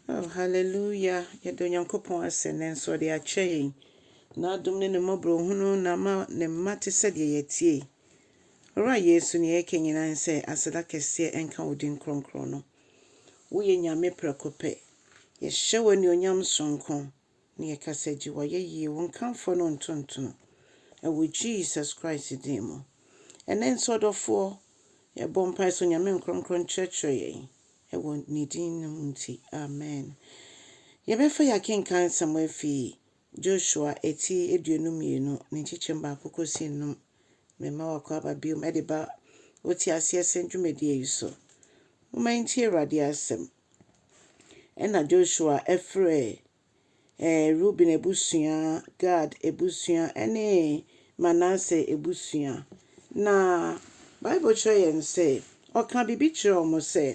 Oh, hallelujah! Yɛda Onyankopɔn ase, nanso Ɔde akyɛ yɛn N'adom ne Ne mmɔborɔhunu na ama Ne mma te sɛ deɛ yɛteɛ yi. Owura Yesu, nea yɛka nyinaa ne sɛ, Aseda kɛseɛ nka Wo din kronkron no. Woyɛ Nyame prɛko pɛ. Yɛhyɛ Wo anuonyam sononko. Ne yɛkasa gye wayɛ yie wo nkamfoɔ no ntontono ɛwɔ Jesus Christ din mu ɛnɛ nso ɔdɔfoɔ yɛbɔ mpae sɛ Onyame nkrɔnkrɔn nkyerɛkyerɛ yɛn ɛwɔ ne din no mu nti amen yɛbɛfa yɛ akenkan nsɛm afi Joshua ɛti aduonu mmienu ne nkyekyɛm baako kɔsi nnum me mma wakɔ aba biom ɛde ba wo te aseɛ sɛ dwumadie yi so moma yɛntie Awurade asɛm Ɛnna Joshua frɛɛ Ruben abusua, Gad abusua ne Manase abusua, na Bible kyerɛ yɛn sɛ ɔkaa biribi kyerɛɛ wɔn sɛ,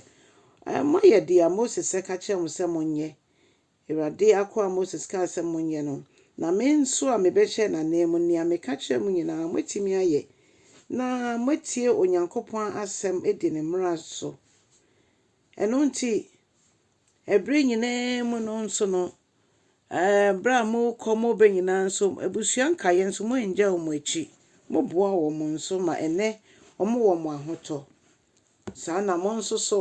Moayɛ deɛ Moses ka kyerɛɛ mo sɛ monyɛ. Awurade akoa Moses kaa sɛ monyɛ no, na me nso a mebɛhyɛɛ n'ananmu, nea meka kyerɛɛ mo nyinaa, moatumi ayɛ, na moatie Onyankopɔn asɛm adi ne mmara so. Ɛno nti, bere nyinaa mu no nso no, bere a morekɔ mo bɛ nyinaa nso, abusua nkaeɛ nso, moannyae wɔn akyi. Moboaa wɔn nso ma ɛnnɛ wɔwɔ mo ahotɔ. Saa na mo nso so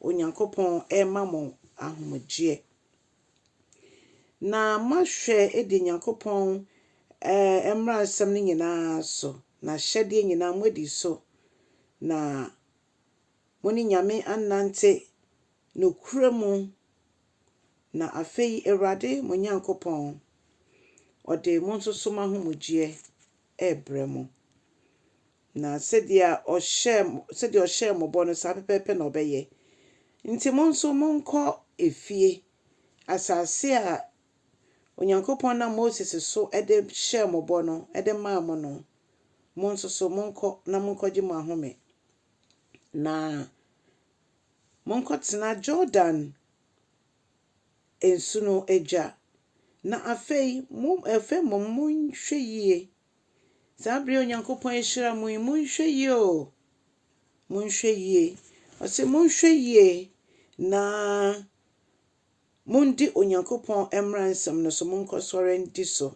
Onyankopɔn rema mo ahomegyeɛ. Na moahwɛ adi Onyankopɔn mmaransɛm no nyinaa so, n'ahyɛdeɛ nyinaa moadi so, na Mo ne Nyame annante nokorɛ mu, na afei Awurade mo Nyankopɔn ɔde mo nsoso mo ahomegyeɛ rebrɛ mo, na sɛdeɛ ɔhyɛɛ mo bɔ no saa pɛpɛɛpɛ na ɔbɛyɛ. Nti mo nso monkɔ efie, asase a Onyankopɔn nam Moses so de hyɛɛ mo bɔ no de maa mo no, Mo nso so, monkɔ na monkɔgye mo ahome, na monkɔtena Jordan nsu no agya. Na afei, mo, afei mmom monhwɛ yie, saa berɛ a Onyankopɔn ahyira mo yi, monhwɛ yie o, monhwɛ yie. Ɔse monhwɛ yie na mondi Onyankopɔn mmara nsɛm no so, monkɔsɔre ndi so.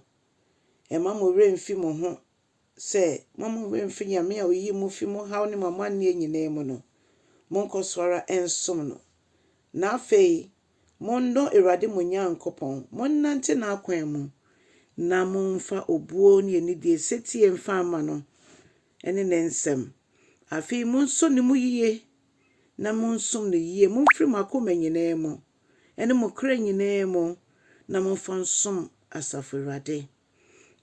Mma mo werɛ mmfi mo ho sɛ, mma mo werɛ mmfi Nyame a oyii mo fii mo haw ne mo amanneɛ nyinaa mu no. Monkɔ so ara nsom no. Na afei, monnɔ Awurade mo Nyankopɔn, monnante n'akwan mu, na momfa obuo ne anidie setie mfa mma no ne ne nsɛm. Afei monsɔ ne mu yiye na monsom no yiye, momfiri mo akoma nyinaa mu. ne mo kra nyinaa mu, na momfa nsom asafo Awurade.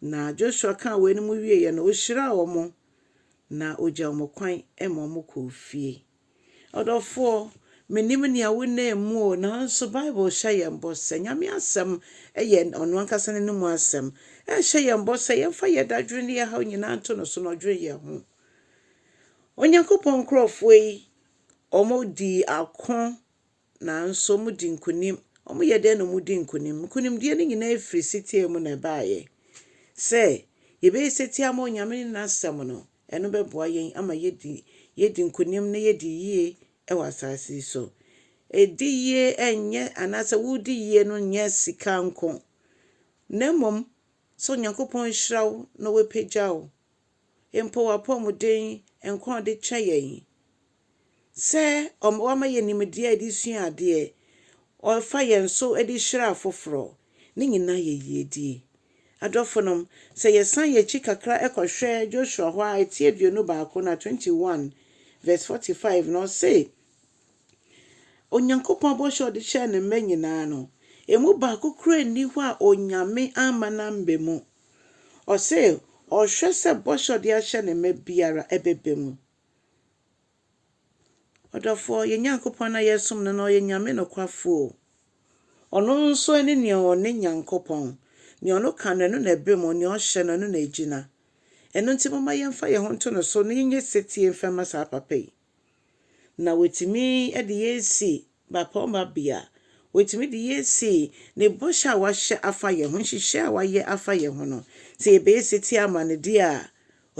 Na Joshua kaa weinom wieeɛ no, ɔhyiraa wɔn, na ɔgyaa wɔn kwan ma wɔkɔɔ fie. Ɔdɔfoɔ, mennim nea wonam mu o, nanso Bible hyɛ yɛn bɔ sɛ, Nyame asɛm yɛ ɔno ankasa n'ano mu asɛm. Ɛhyɛ yɛn bɔ sɛ yɛmfa yɛn dadwene ne yɛn haw nyinaa nto no so na ɔdwene yɛn ho. Onyankopɔn nkurɔfoɔ yi, wɔdii ako Nanso wɔdi nkonim. Wɔyɛ dɛn na wɔdi nkonim? Nkonimdie no nyinaa firi setie mu na ɛbaeɛ. Sɛ yɛbɛyɛ setie ama Onyame ne N'asɛm no, ɛno bɛboa yɛn ama yɛadi yɛadi nkonim na yɛadi yie wɔ asaase yi so. Di yie nyɛ anaasɛ wodi yie no nyɛ sika nko, na mmom sɛ Onyankopɔn hyira wo na wapagya wo mpo w'apɔmuden nko a ɔde kyɛ yɛn sɛ ɔma wama yɛn nimdeɛ a yɛde sua adeɛ, ɔfa yɛn so de hyira afoforɔ, ne nyinaa yɛ yiedie. Adɔfonom, sɛ yɛsan yɛn akyi kakra kɔhwɛ Joshua hɔ a, ɛti aduonu baako na twenty one verse forty five no, ɔse, Onyankopɔn bɔhyɛ a ɔde hyɛɛ ne mma nyinaa no, ɛmu baako koraa nni hɔ a Onyame amma no ammɛ mu. Ɔse ɔhwɛ sɛ bɔhyɛ ɔde ahyɛ ne mma biara ɛbɛba mu. Ɔdɔfoɔ, yɛn Nyankopɔn a yɛsom no no ɔyɛ Nyame nokwafoɔ. Ɔno nso ɛne nea ɔne Nyankopɔn. Nea ɔno ka no, ɛno na ɛba mu, nea ɔhyɛ no, ɛno na ɛgyina. Ɛno nti momma yɛmfa yɛn ho nto no so na yɛnyɛ setie mfa mma saa papa yi. Na watumi de yɛn asi mmapɔmma bea. Watumi de yɛn asi ne bɔhyɛ a wahyɛ afa yɛn ho, nhyehyɛe a wayɛ afa yɛn ho no. Sɛ yɛbɛyɛ setie ama no deɛ a,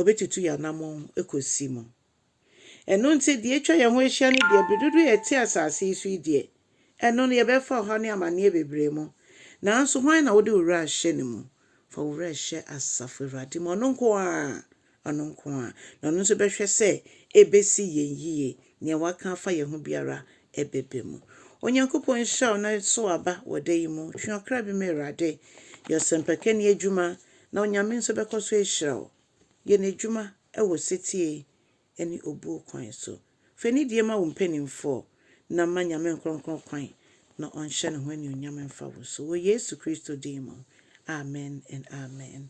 ɔbɛtutu yɛn anammɔn kɔsi mu. Ɛno nti, deɛ atwa yɛn ho ahyia no deɛ, bere dodoɔ a yɛte asase yi so yi deɛ, ɛno no, yɛbɛfa ɔhaw ne amanneɛ bebree mu. Nanso hwan na wode wo werɛ ahyɛ ne mu? Fa wo werɛ hyɛ asafo Awurade mu, ɔno nko ara. Ɔno nko ara na ɔno nso bɛhwɛ sɛ ebesi yɛn yiye. Nea waka afa yɛn ho biara bɛba mu. Onyankopɔn nhyira wo na sow aba wɔ da yi mu. Twe ɔkra bi ma Awurade. Yɛ ɔsɛmpakani adwuma na Onyame nso bɛkɔ so ahyira wo. Yɛ N'adwuma wɔ setie ne obuo kwan so. Fa anidie ma wo mpanimfoɔ na ma Nyame nkorɔnkorɔn kwan na ɔnhyɛ Ne ho anuonyam mfa wo so. Wɔ Yesu Kristo din mu, amen and amen.